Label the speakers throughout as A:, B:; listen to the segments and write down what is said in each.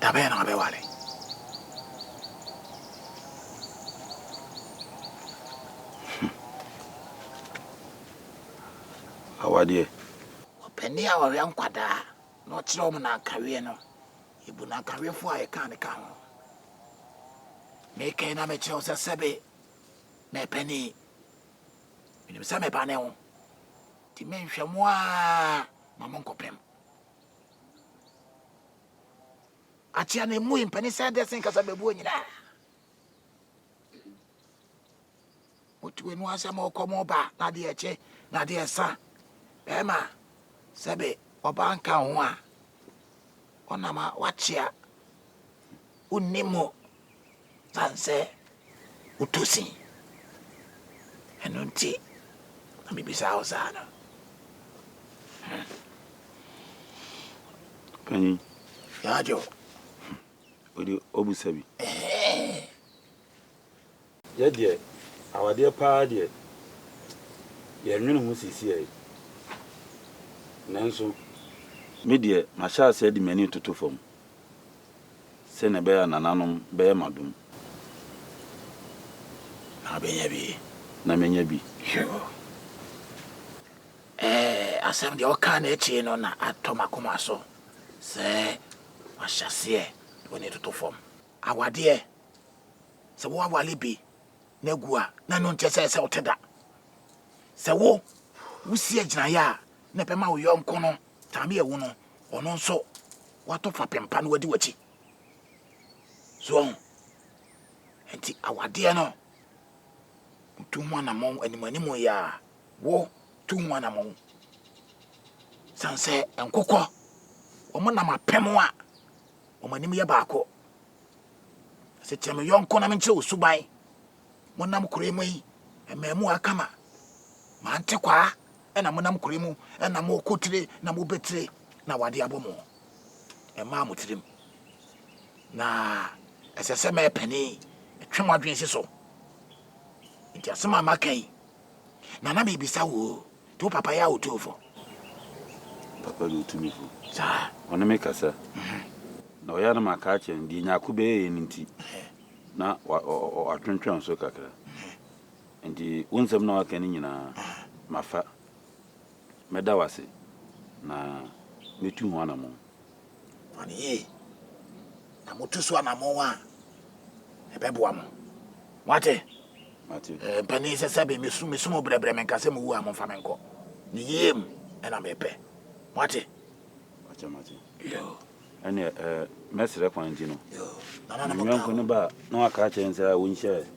A: Da bɛn na wabɛware?
B: Hmm. Awadeɛ. Ɔpanin
A: a ɔwɛ nkwadaa na ɔkyerɛ wɔn n'ankaweɛ no, ebu n'ankaweɛfoɔ a yɛka ne ka ho. Mekɛn na mekyerɛ wo sɛ sɛbe mɛpanin. Menim sɛ meba ne ho. Nti menhwɛ mo a Ma mo nkɔpem. Akyea na emu mpani sɛ dɛ sen kasa bɛbuo nyinaa. Motu enu asɛ mo kɔ mo ba na adeɛ ɛkye na adeɛ ɛsa. Bɛrima sɛbe ɔbaa nka ho a ɔnama wakyea. Wonni mu sane sɛ wotɔ sin. Ɛno nti na mebisaa wo saa no.
B: Panyin. Yaajo.
A: Wode
B: ɔbusa bi. Ɛhɛɛ. Yɛ deɛ, awadeɛ paa deɛ, yɛnnwene ho seesei. Nanso. Me deɛ, mahyɛ aseɛ de m'ani retoto fam sɛdeɛ ɛbɛyɛ a nananom bɛyɛ m'adom na abɛnya bi. Na manya bi. Yoo.
A: Ɛɛ, asɛm deɛ wokaa no akyire no na atɔ m'akoma so sɛ mahyɛ aseɛ de m'ani retoto fam. Awadeɛ. Sɛ woawale bi na agu a, na ɛno nkyɛ sɛ ɛsɛ wote da. Sɛ wo wosi agyinaeɛ a na ɛbɛma wo yɔnko no tame awu no, ɔno nso wato fapem pa no wadi w'akyi. So ɔho nti awadeɛ no tu ho anamɔn animanim yɛ a wo tu ho anamɔn san sɛ nkokɔ wɔn nam apem a wɔn anim yɛ baako Ɔse kyerɛ me yɔnko na menkyerɛ wo suban Monam kure mu yi mmaamua kama Mante kwaa ɛna monam kure mu ɛna mokɔ tire na mobɛ tire na wade abɔ mo Ɛmaa mo tirim na ɛsɛ sɛ mɛpɛne Ɛtwe mo adwene si so Nti asɛm a maka yi Nana me bisa wo o, nti wo papa yɛ otumfo?
B: Papa yɛ otumifo. Saa. Ɔne me
A: kasa.
B: Na ɔyɛ a na maka akyerɛ no deɛ Nyarko bɛyɛeɛ no nti na watwentwɛn so kakra. Nti wo nsɛm no a waka no nyinaa mafa. Mɛda wo ase na mɛtu ho anamɔn. wɔn
A: yie na motu so anammɔn a ɛbɛboa mo moate eh, mpanin sɛ sɛbe mesu mesu mo brɛbrɛ menka sɛ mowu a momfa me nkɔ ne yie mu ɛna mepɛ moate ɛne eh,
B: mɛserɛ kwan nti no ne
A: yɔnko no
B: ba na waka akyerɛ n sɛ wonhyɛ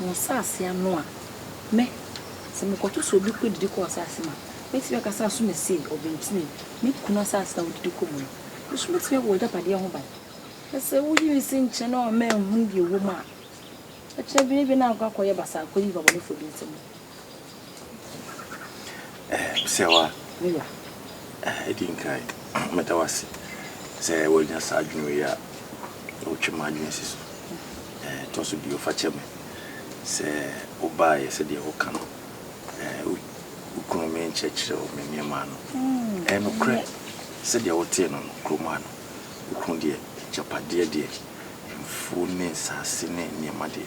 C: Mo nsase ano a, mɛ, sɛ mekɔto so obi kɔdidi kɔ ɔsase mu a, mɛtumi aka sɛ aso na sei, ɔbentini, me kunu asase na ɔdidi kɔ mu no, nso mɛtumi abɔ w'agyapadeɛ ho ban. Na sɛ woyi me si nkyɛn na wɔamma anhunu deɛ ɛwɔ mu a, ɛkyerɛ bere bi na ankɔ akɔyɛ basaa akɔdi nnipa bɔnefoɔ bi nsa mu.
A: Sewa, ɛdi nkan, meda wo ase sɛ woanya saa adwene wei a wotwe m'adwene si so. Ɛtɔ so bio, fa kyɛ me sɛ wobaeɛ sɛdeɛ woka no, wo kunu me nkyerɛkyerɛ wo me nneɛma ano. Ɛyɛ nokorɛ sɛdeɛ wotee no no, kurom ha no, wo kunu deɛ, agyapadeɛ deɛ, mfuo ne nsaase ne nneɛma deɛ,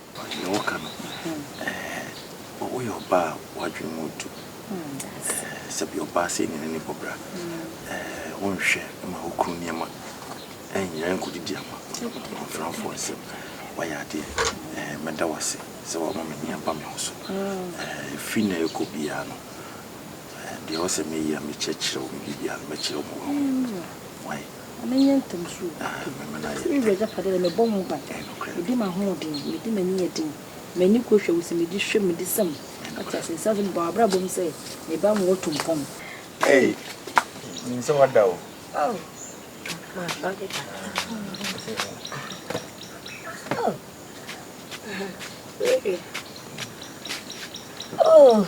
C: Deɛ woka no
A: eh Woyɛ ɔbaa a w'adwene mu ntu eh Sɛbi ɔbaa sei ne n'ani bɔ bra eh Wonhwɛ ma wo kunu nneɛma ɛnyera nkɔdidi ama amamfranfoɔ nsam Woayɛ adeɛ eh Mɛda wo ase sɛ wama m'ani aba me ho so eh Ɛfiri nnɛ rekɔ biara no eh Deɛ ɔsɛ mɛyɛ a mɛkyerɛkyerɛ wo Me biribiara no mɛkyerɛ wo ma woahu Wai. na menyɛ ntɛm so adu sɛ me wura agyapadeɛ deɛ, mebɔ ho ban, medi m'ahoɔden, medi m'aniyɛ den, m'ani kɔ hwɛ wo sɛ medi hwɛ medi sɛm, wate aseɛ, ɛsiane sɛ mebɔ m'abrabɔ mu sɛ me ba nwɔ to mpɔn. Ei! Menim sɛ wada o. Oh! Masɔre da. Oh!
C: Baby.
D: Oh!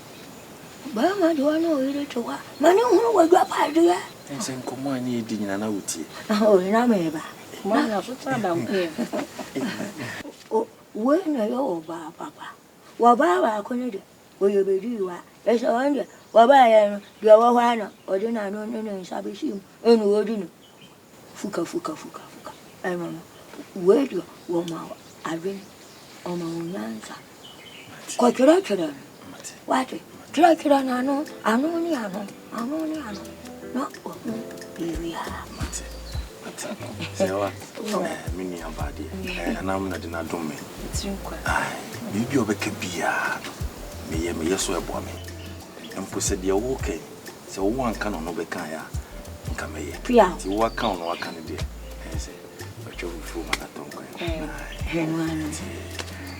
D: Ɔbarima de ɔne ɔyere to hɔ a, ma ne hunu w'agyapadeɛ. Ɛsɛ nkɔmmɔ a
A: ne yɛdi nyina na wotie. Ahoe na meba.
D: Mami asotra
C: da nkoyɛ.
D: Wei na ɛyɛ ɔbaa papa. Wɔbaa baako no deɛ, ɔyɛ bɛdii wa. Ɛsɛ ɔno deɛ, wɔbaeɛ no, deɛ ɛwɔ hɔ ara na ɔde n'ano ne ne nsa bɛhyɛ mu ɛna ɔdi no. Fuka fuka fuka fuka ɛno no wei deɛ wɔma wo adwene wɔma wo nyansa kɔtwerɛtwerɛ no wate twerɛtwerɛ no ano ano ne ano ano ne ano na ɔhu biribiara
A: me nuabaa deɛ ɛnam na de no adom me
C: biribi a ɔbɛka
A: biaa no meyɛ meyɛ so ɛboa me mpo sɛ deɛ woka yi Sɛ wo wanka no no bɛka ya nka mɛyɛ. Ti wo aka no aka no deɛ ɛyɛ sɛ bɛtwa fufuo ma na tɔn kwan.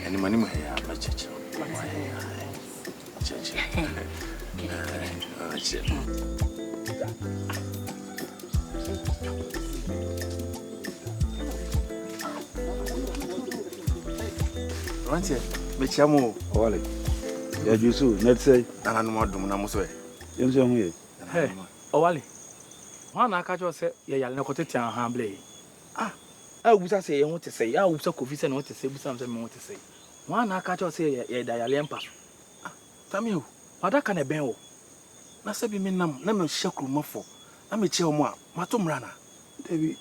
A: Ɛnim anim ha ya mɛkyerɛkyerɛ wo. Kyerɛkyerɛ. Rantie, mekyia mo. Wale.
B: Ya jusu, netsei. Nananom adom na mo
A: so ɛ. Yɛn nso yɛn ho ye.
E: Hɛ, Ɔwale, hwan na aka akyerɛ wo sɛ yɛyare na kɔtete anhaa blɛ yi? Ah! A wobisa sɛ yɛn ho te sɛn? A wobisa Kofi sɛ ne ho te sɛn, bisa me sɛ me ho te sɛn? Hwan na aka akyerɛ wo sɛ yɛ, yɛda yareɛ mpa so? Ah! Tamia
A: o, m'adaka na ɛbɛn wo. Na sɛ bi me nam na mehyɛ kurumafo na mekyia wɔn a, mato mmara anaa? Dabi.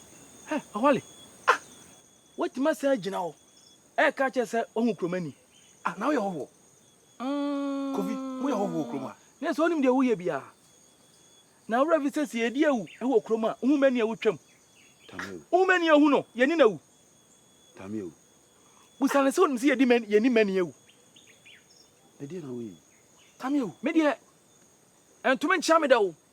E: Hɛ, Ɔwale, ah! Woatumi asan agyina hɔ ɛreka akyerɛ sɛ woahu Kuromani? Ah! Na woyɛ hɔhoɔ?
A: Kofi, moyɛ hɔho wɔ kurom ha. Nanso wonim deɛ woyɛ
E: biara. Na wo werɛ fi sɛ sɛ yɛdi awu wɔ kurom a, wohu mani a wotwam. Wohu mani a ohu no, yɛni no awu.
B: Busa
E: no sɛ wonim sɛ yɛni mani
B: awu. Tamio, me
E: deɛ, ɛntumi nkyea me da o.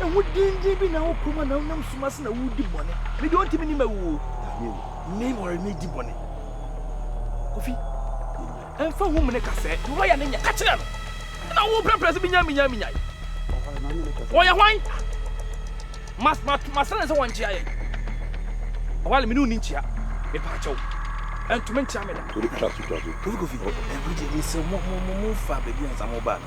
E: Ehu denden bi na wokɔ mu a na wonam sum ase na woredi bɔne. Me deɛ ɔntumi nim awu o. Mmɛn wɔre medi bɔne. Kofi, ɛmfa ho mene ka sɛ deɛ ɔyɛ ne nyɛ ka kyerɛ no. Na wo pɛpɛ sɛ binya minya minya. Ɔyɛ hwan? Mas mas masrɛ sɛ wɔnkyea yɛn. Ɔwale me ne wo ni nkyea. Mepa kyɛw. Ɛntumi nkyea me da. Kofi kofi.
A: Ɛbɛgye me sɛ mo mo mo mo fa baabi ansa mo ba no.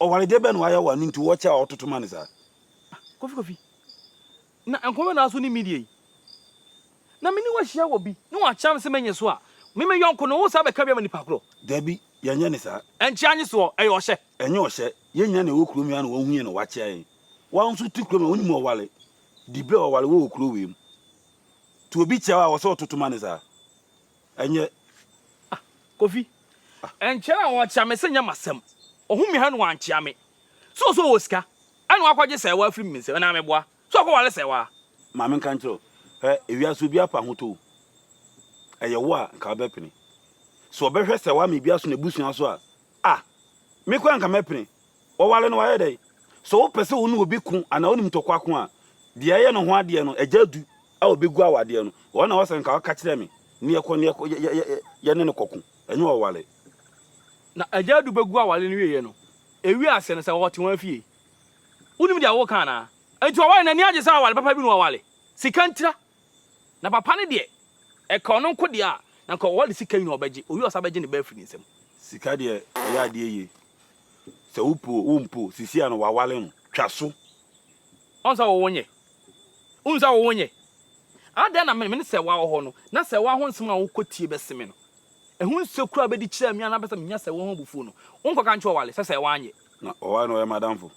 B: Ɔware deɛ bɛn na wayɛ wo a no nti wɔkyɛ a ɔtoto ma no saa? Ah Kofi Kofi,
E: na nkɔmmɔ bɛn na w'aso ne me die yi? Na me ne wo ahyia wɔ bi na wakyea me sɛ mɛnyɛ so a, me me yɔnko no wo saa bɛka bi ama nipa korɔ? Dabi, yɛnyɛ no
B: saa. Ɛnkyea nye soɔ,
E: ɛyɛ ɔhyɛ. Ɛnyɛ ɔhyɛ, yɛn
B: nyinaa na ɛwɔ kurom yi ara na wahu yɛn na wakyea yɛn. Wo ara nso wote kurom ha wonim ɔware dibrɛ a ɔware wɔ wɔ kuro wei mu. Nti obi kyea wo a ɔwɔ sɛ ɔtoto ma no saa? Ɛnyɛ. Ah, Kofi.
E: Ah. Ɛnkyɛ na wɔkyea me sɛ nyɛ m'asɛm. Ɔhu me ha na wankyea me. So ɔsɛ ɔwɔ sika? Ɛna wakɔgye sɛɛwa afiri me nsam na meboa. So ɔkɔware sɛɛwa? Ma menka nkyerɛ
B: wo. Hwɛ, ewiase obiara pɛ ahotɔ o. Ɛyɛ wo a, nka wobɛpene. So ɔbɛhwɛ sɛɛwa ama ebi aso n'abusua so a, Ah! Me koraa anka mɛpene. Wɔware no wayɛ dɛn? Sɛ wopɛ sɛ wo ne obi ko anaa wonim ntɔkwa ko a, deɛ ɛyɛ ne ho adeɛ no, agya du a ɔbɛgu awadeɛ no, ɔno na ɛwɔ sɛ nka ɔka kyerɛ me na yɛkɔ na yɛkɔ yɛ yɛ yɛ yɛne no kɔko, ɛnyɛ ɔware. Na
E: agya adu bɛgu aware no wieeɛ no, ɛwiee aseɛ no, sɛ wɔte wɔn afie. Wonim deɛ woreka anaa? Enti ɔware no ani agye sɛ aware papa bi na waware? Sika ntira Na papa no deɛ, ɛka ɔno nko deɛ a, na nka ɔde sika nyinaa ɔbɛgye, ɔwie a ɔsan bɛgye ne ba afiri ne nsam. Sika deɛ
B: ɛyɛ adeɛ yie, sɛ wo po o, wo mpo o, sisia no wawale no, twa so. Ɔn
E: sɛ wowo nyɛ? Wohu sɛ wowo nyɛ? Adɛn na mene sɛ woa wɔ hɔ no, na sɛ woa ho nsɛm a wokɔ tie bɛse me no, ɛho nsuo koraa bɛdi kyerɛɛ me a na bɛsɛ menya sɛ woa ho abufuo no, wonkɔ ka nkyerɛ ɔwale sɛ sɛ woa nyɛ. Na ɔwale na ɔyɛ m'adamfo.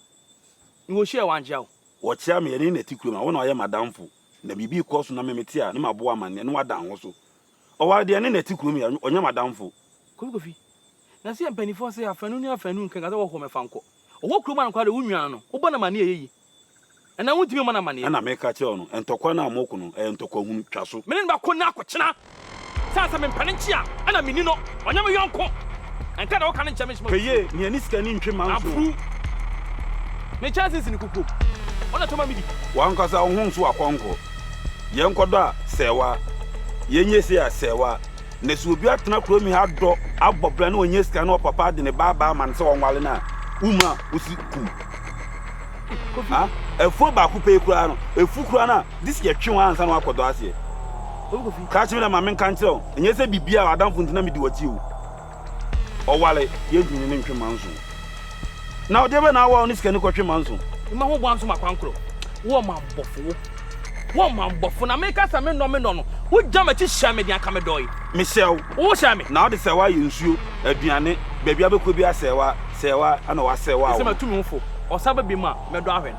B: Mewɔ
E: hyia a wɔankyea wo. Wɔkyea me, yɛne na ɛte
B: kurom a, wo na woayɛ m'adamfo. Na biribi rekɔ so na me mete a na mabɔ amanneɛ na wada nho so. Ɔware deɛ ɛne na ɛte kurom yi a, ɔnyɛ m'adamfo. Kofi Kofi,
E: Na sɛ yɛ mpaninfoɔ se afanu ne afanu nka sɛ wɔhɔ me fa nkɔ. Ɔwɔ kurom ha no koraa deɛ wo nua no, wo bɔ no amanneɛ a ɛyɛ yie. Ɛnam wo ntumi mmɔ no amanneɛ. Ɛna meka kyerɛɛ no,
B: ntɔkwa no a moko no, ɛyɛ ntɔkwa hunu, twa so. Me ne no bɛko nnɛ akɔkyena.
E: Sɛ sɛ mempɛ no nkye a, ɛna menni no. Ɔnyɛ me yɔnko. Ɛnka deɛ woka no nkyɛ me soma fuo. Pɛyee, nea ne sika nni ntwe
B: mma nso. Aburuw.
E: Me kyɛnse nsini kukuo mu. Wo na ɛtɔ ma medi. W'ankasa wo ho nso
B: akɔnkɔ. Yɛnkɔdɔ a, sɛɛwa. Yɛnyɛ sei a, sɛɛwa. Na sɛ obi atena kurom yi ha adɔ, abɔ bra na wanya sika na ɔpapa de ne ba aba ama no sɛ ɔnware no a, wumma a, wosi kum. Kofi. Ah, afuo baako pɛ yi koraa no, ɛfu koraa no a, gye sɛ yɛtwe wo ara ansa na woakɔdɔ aseɛ. Ka
E: kyerɛ no dɛ ma menka
B: nkyerɛ wo, nnyɛ sɛ biribi a w'adamfo ntsi na mede wo atsie o. Ɔware, yenntum nye no ntwe manso. Na ɔdze ebɛn na awa wo ne sikani kɔtwe manso? Mma ho boa nso ma
E: kwan koro. Wo ɔmammɔfo, wo, wo ɔmammɔfo, na meka sɛ mennɔ me dɔ no, wogya m'akyi hyɛɛ me den anka medɔe. Mehyɛɛ wo. Wo
B: hyɛɛ me. Na wode
E: sɛɛwa ayɛ nsuo,
B: aduane, baabi a wobɛkɔ biara sɛɛwa, sɛɛwa, ɛna wɔasɛɛwaa wo no. Sɛ matumi wo fo,
E: ɔsan ba biom a, mɛdɔ ahwɛ no.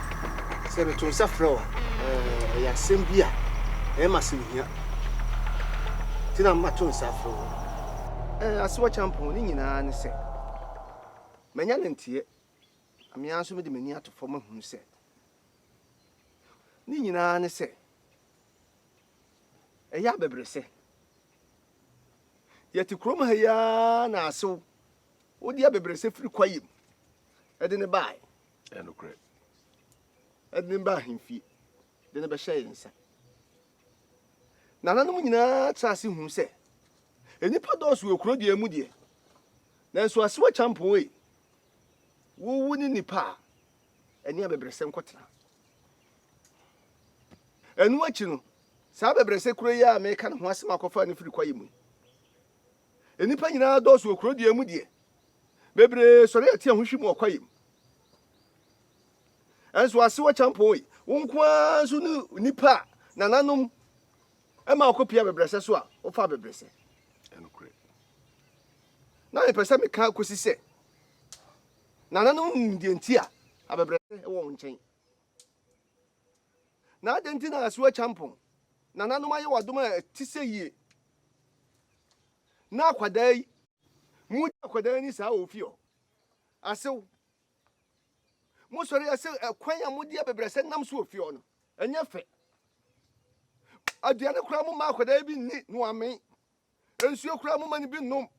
F: Sɛ meto nsa frɛ wo a, eh, ɛyɛ asɛm bi a ɛyɛ ma asɛm hia. Nti na mato nsa frɛ wo. Eh, asewa kyampɔn ne nyinaa ne sɛ, manya ne nteɛ. Amea nso mede m'ani ato fam ahunu sɛ, ne nyinaa ne sɛ, ɛyɛ abɛbrɛsɛ. Yɛte kurom ha yi ara na asew, wode abɛbrɛsɛ firi kwaeɛ mu de ne bae. Ɛyɛ nokorɛ. Ɛde no baa ahemfie de no bɛhyɛɛ yɛn nsa. Nananom nyinaa traa ase huu sɛ nnipa dɔɔso wɔ kuro deɛ mu deɛ, nanso asewa kyampɔn ei, wowu ne nnipa a ɛne abɛbrɛsɛ nkɔtena. Ɛno akyi no, saa abɛbrɛsɛ kuro yi a meka ne ho asɛm akɔfa no firi kwaeɛ mu yi, Nnipa nyinaa dɔɔso wɔ kuro deɛ mu deɛ. Bebree sɔre a tia ho hwi mu ɔkwaeɛ mu. Ɛnso asewa kyampɔn yi, wo nko ara nso ne nnipa a nananom ɛma ɔkɔpia abɛbrɛsɛ so a wofa abɛbrɛsɛ. Ɛnokorɛ. Na mepɛ sɛ meka kɔsi sɛ nananom nim deɛ nti a abɛbrɛsɛ wɔ wɔn nkyɛn. Na adɛn nti na asuo atwa mpɔn? Nananom ayɛ w'adom a ɛte sɛ yie. Na akwadaa yi. Mogya akwadaa ni saa wɔ fie hɔ. Asew. Mosɔre ase ɛkwan a mode abɛbrɛsɛ nam so wɔ fie hɔ no, ɛnyɛ fɛ. Aduane koraa momma akwadaa bi nni na wamen. Nsuo koraa momma no bi nnom.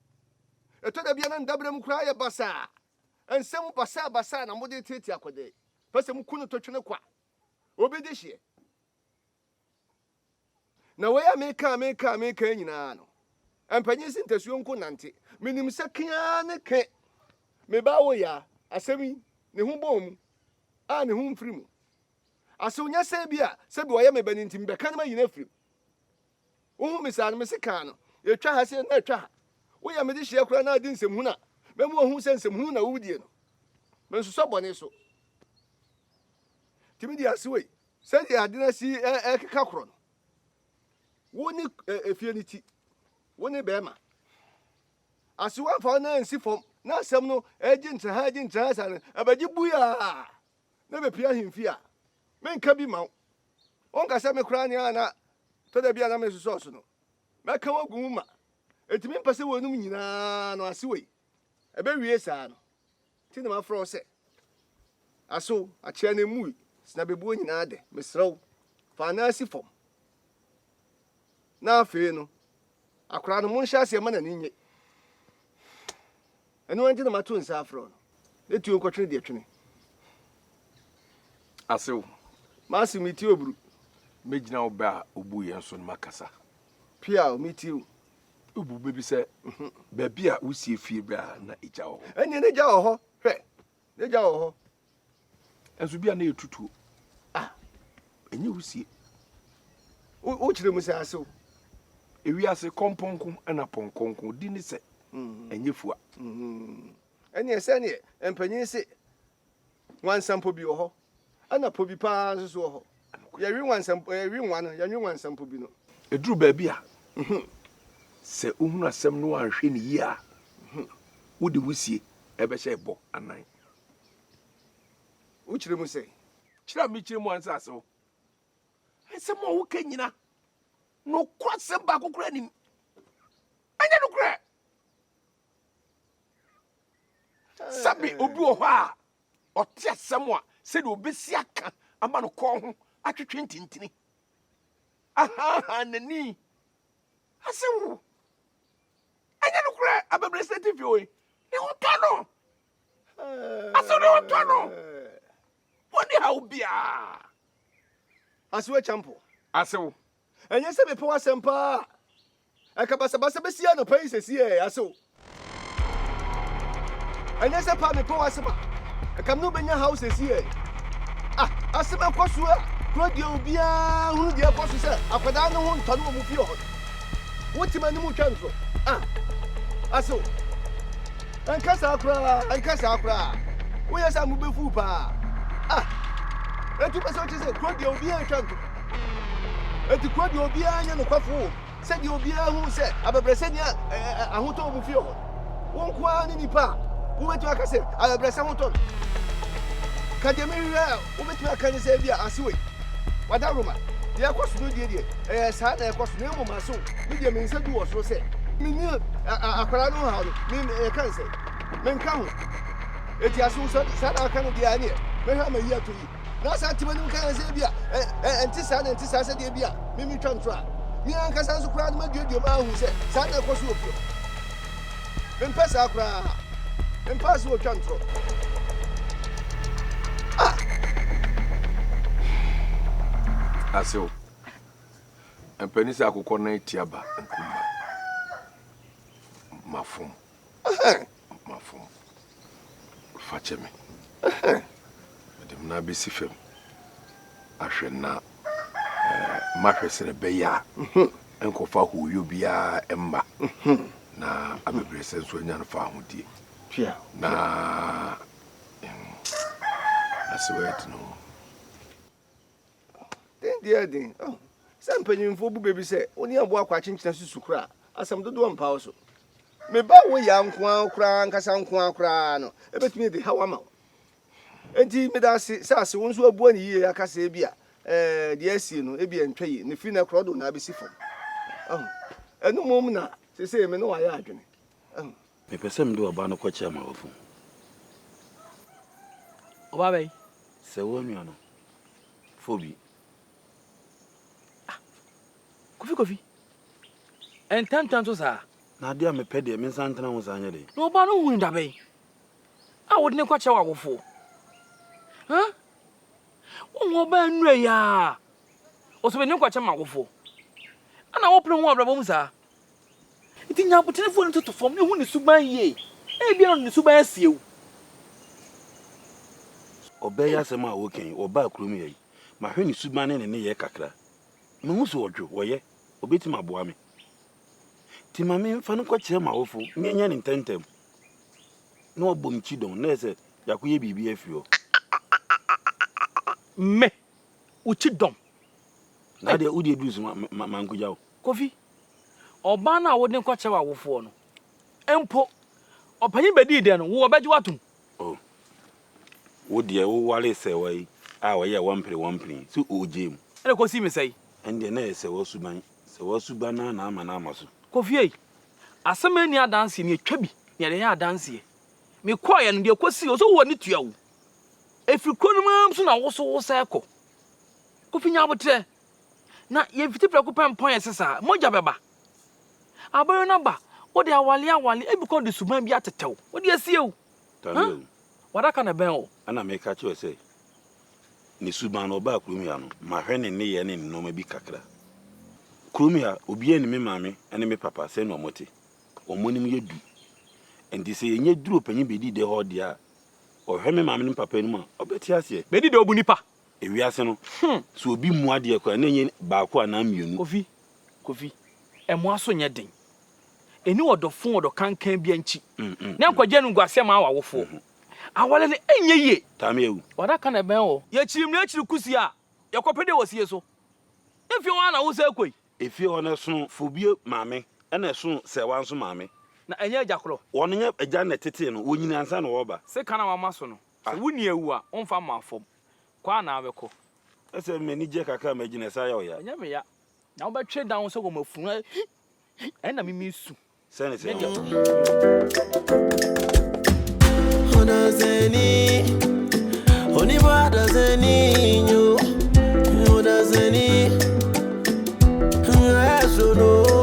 F: Ɛtɔ da bi a na ne dabere mu koraa yɛ basaa. Nsɛm basabasa na mode reteetee akɔdɛɛ, pɛ sɛ muku no totwene kwa. Obi de hyeɛ. Na wei a meka a meka a meka yi nyinaa no, mpanyin se ntasuo nko nante. Menim sɛ ke ara ne ke, me ba wo yaa, asɛm yi, ne ho bɔɔ mu, a ne ho mfiri mu. Asew nyɛ sɛ bi a, sɛbi ɔyɛ me ba no nti, mebɛka no mayi no afiri mu. Wohu me saa no, mese kaa no, ɛtwa ha sɛ na ɛtwa ha. Woyɛ me de hyia koraa na adi nsɛmhunu a, mɛma wahu sɛ nsɛmhunu na wodie no. Mensosɔ bɔne so. Tumi di ase wei, sɛdeɛ ade no asi ɛkeka korɔ no, wo ne efie no ti, wo ne bɛrima. Ase wamfa wo na nsi fam, na asɛm no ɛgye ntra ha, ɛgye ntra ha saa no, ɛbɛgye bui a. na mepia ahemfi a, menka bi mma wo. Wonka sɛ me koraa nea na tɔ da bi a na mesosɔ so no, mɛka wo agu mu ma. Enti mempɛ sɛ wɔnom nyinaa no ase wei. Ɛbɛwie saa no nti na mafrɛ wo sɛ, Aso akyea no mmui? Sena bebuo nyinaa dɛ. Mesrɛ wo, fa anan si fam. Na afei no, akwadaa no, monhyɛ aseɛ ma n'ani nnye. Ɛno ara nti na mato nsa afrɛ no. Ne tuo nkɔtwene deɛ twene. Asew. Mase metie oburu. Mɛgyina wo
G: bɛ a wobu yɛn so no makasa. Pia o,
F: metie o. Wobu bɛ
G: bi sɛ mhm. baabi a wosie fie berɛ a na egya wɔ hɔ. Ɛnneɛ n'egya wɔ hɔ,
F: hwɛ, n'egya wɔ hɔ. Nso
G: bi a na yɛtutuo a ɛnyɛ wusie
F: wokyerɛ mu sɛ asew ewiase
G: kɔmpɔnko na pɔnkɔnko di ne sɛ mm-hmm. ɛnyɛ fua mm-hmm.
F: ɛneɛ sɛneɛ mpanyin se nwansampɔ bi wɔ hɔ ɛna pɔ bi paa nso so wɔ hɔ yɛwe nwansampɔ yɛwe nwa no yɛwe nwansampɔ bi no ɛduru baabi a
G: mm-hmm. sɛ wohunu asɛm no anhwɛ ne yie a wode wusie ɛbɛhyɛ ɛbɔ anan
F: wokyerɛ mu sɛ. Kyerɛ a mekyerɛ mu
G: ansa asew. Asɛm a woka nyina, nokwasɛm baako koraa nim. Ɛnyɛ nokorɛ. Sɛbe obi wɔ hɔ a ɔte asɛm a sɛdeɛ obɛsi aka ama no kɔɔ ho atwetwe ntintini, ahaha n'ani ase wo. Ɛnyɛ nokorɛ abɛbrɛsɛ TV wei ne ho tɔ no Aso ne ho tɔ no Wɔnni haw biaa Aso
F: akyampo Aso
G: Ɛnyɛ sɛ mepɛ
F: w'asɛm paa Ɛka basabasa bɛsi anɔpa yi sɛsi ɛ Aso Ɛnyɛ sɛ paa mepɛ w'asɛm a Ɛka me ne wobɛnya haw sɛsi ɛ Ah asɛm ɛkɔ so a Kuro deɛ obiaa hunu deɛ ɛkɔ so sɛ Akwadaa ne ho ntɔ no wɔ mo fie hɔ no Wo tema no mu twa ntorɔ. Ah! Asew! Ɛnka saa koraa, ɛnka saa koraa. Woyɛ saa mo bɛfuw paa. Ah! Enti wopɛ sɛ wokyerɛ sɛ kuro deɛ obiara ntwa ntorɔ. Enti kuro deɛ obiara nyɛ nokwafo wɔ mu. Sɛdeɛ obiara hu sɛ abɛbrɛsɛ ni a ahotɔ wɔ mo fie hɔ. Wo nko ara ne nipa a wobɛtumi aka sɛ abɛbrɛsɛ ho tɔ no. Ka deɛ mehwehwɛ wobɛtumi aka ne sɛ ebia ase wei w'adaworoma deɛ ɛkɔ so no deɛ deɛ ɛyɛ saa na ɛkɔ so na mmom ase wo me deɛ me nsa du wɔ soro sɛ menni akwadaa no haw no me ɛka ne sɛ menka ho ɛti ase wo sɛ saa na aka no deɛ ɛneɛ mɛhwɛ ama yi ato yi na saa ntima no ka sɛ ebia ɛnte saa na ɛnte saa sɛ deɛ bi a memetwa nto a me ankasa nso koraa no maduaduam ahu sɛ saa na ɛkɔ so wɔ fie Mempɛ saa koraa. Mempaa sɛ wɔtwa ntorɔ.
G: Ah! Asew. Ɛmpɛ ne sɛ akokɔ nan atia ba nkumba. Mafom. Mafom. fa kyɛ me. Mede me nan bɛsi fam ahwɛ na mahwɛ sɛ ɛbɛyɛ a nkɔfa hooyɔ biara mma na abɛbrɛsɛ nso anya no fa ahodie na asewɛt no
F: Den deɛ yɛ den oh, sɛ mpanyinfoɔ bu baabi sɛ wo ne aboa akɔ akyenkyena susu koraa asɛm dodoɔ mpa wo so. Me ba wo ya nkoa koraa nkasa nkoa koraa no ebetumi de haw ama wo. Enti meda ase sɛ ase wo nso abua ne yie aka sɛ ebi a ɛɛ deɛ asie no ebi ɛntwa yie ne firi na korɔ do na abesi fam. Ɛho ɛno mmom na sese me ne wayɛ adwene. Ɛho. Mepɛ
B: sɛ mede ɔbaa no kɔkyerɛ m'awofo.
A: Ɔbaa bɛn? Sɛ wo nua no,
B: Fobi.
A: Ah, Kofi Kofi. Ɛntɛntɛn so saa. Na adeɛ a mepɛ deɛ
B: me nsa ntena ho saa nyɛ den. Na ɔbaa no hunu da bɛn
A: a wode no kɔkyerɛ w'awofo? Ha? Wohu ɔbaa nnura yi a ɔsɛ mede no kɔkyerɛ m'awofo. Ana wopene ho abrabɔ mu saa? Enti nya abotenefoɔ no toto fam na hu ne suban yie. Ebia na ɔde ne suban asie wo.
B: Ɔbaa yi asɛm a woka yi, ɔbaa kurom ha yi. Mahwɛ ne suban ne ne nneyɛɛ kakra. Mehu sɛ ɔdwo, ɔyɛ, ɔbɛtumi aboa me. Nti ma memfa no nkɔkyerɛ m'awofo na yɛnyɛ no ntɛmntɛm. Na wabɔ me kyidɔn, na ayɛ sɛ yɛakɔyɛ biribi afiri hɔ.
A: Me, wo kyidɔm.
B: Na adeɛ, wo deɛ duru so, mankɔgya wo. Kofi,
A: ɔbaa no a wode no kɔkyerɛ w'awofoɔ no mpo, ɔpanin bɛdii dɛn no, wo wɔbɛgye wo atom? Oh, wo
B: deɛ wowaree sɛwa yi a ɔyɛɛ wampere wampere yi, so ɔgyee mu? Ɛna kɔsii me sɛe?
A: Ɛndeɛ na ɛyɛ sɛwa
B: suban, sɛwa suban no ara na ama no ama so. Kofi ei,
A: asɛm a ɛnni adanseɛ, nea ɛtwa bi na yɛde yɛ adanseɛ. Mekɔeɛ no, deɛ ɛkɔsii hɔ, so wo ani tua wo? Ɛfiri kuro no mu ara so na wo so wosan kɔ? Kofi, nya aboterɛ, Na
E: yɛfiti prɛko pɛ mpɔn ɛse saa, mogya bɛba. Abɔyɔ no aba, wode awale awale, ebi kɔ de suban bi atetɛ wo, wode asie o. Huh?
B: W'adaka na ɛbɛn
E: o. Ɛna meka kyerɛ sɛ,
B: ne suban no ɔbaa kurom ha no, mahwɛ ne nneyɛɛ ne ne nnoɔma bi kakra. Kurom ha, obiara nnim me maame ne me papa sɛn na wɔte. Wɔn anim yɛ du. Enti sɛ yɛnya duru ɔpanyin Bedidɛ hɔ deɛ a, ɔhwɛ me maame ne me papa anim a, ɔbɛte aseɛ. Bedidɛ obu nipa,
E: Ewiase no,
B: sɛ obi mua adeɛ koraa a, na ɛnyɛ baako anaa mmienu. Kofi, Kofi,
E: ɛmoa so nyɛ den. Ɛnni ɔdɔfo ɔdɔ kankan biara nkyi. Na nkwagyeɛ no nguaseɛ maa w'awofoɔ. Aware no ɛnyɛ yie. Taame awu. W'adaka
B: na ɛbɛn wo.
E: Yɛkyiri mmiri akyiri kusi a, yɛkɔ pɛ deɛ wɔ sie so. Efie hɔ ara na wosan kɔ yi. Efie hɔ no ɛsono
B: Fobie maame ɛna ɛsono Sɛɛwa nso maame. Na ɛnyɛ agya korɔ.
E: Wɔn nyɛ agya na
B: ɛtetee no, wɔnyini ansa na wɔreba. Sekan a wama so no.
E: Sɛ wo nua wu a, womfa mmɔ afɔm. Kɔ a na wobɛkɔ. Sɛ m'ani
B: gye kakra a, magyina saa yɛ wo ya. Ɛnyɛ me ya. Na
E: wobɛtwe dan wo sɛ wɔ m'afunu a ɛnna me mesu. Sɛ ne sɛ oh.
H: Odazeni, onibwa dazeni nyo, odazeni, ngayasono.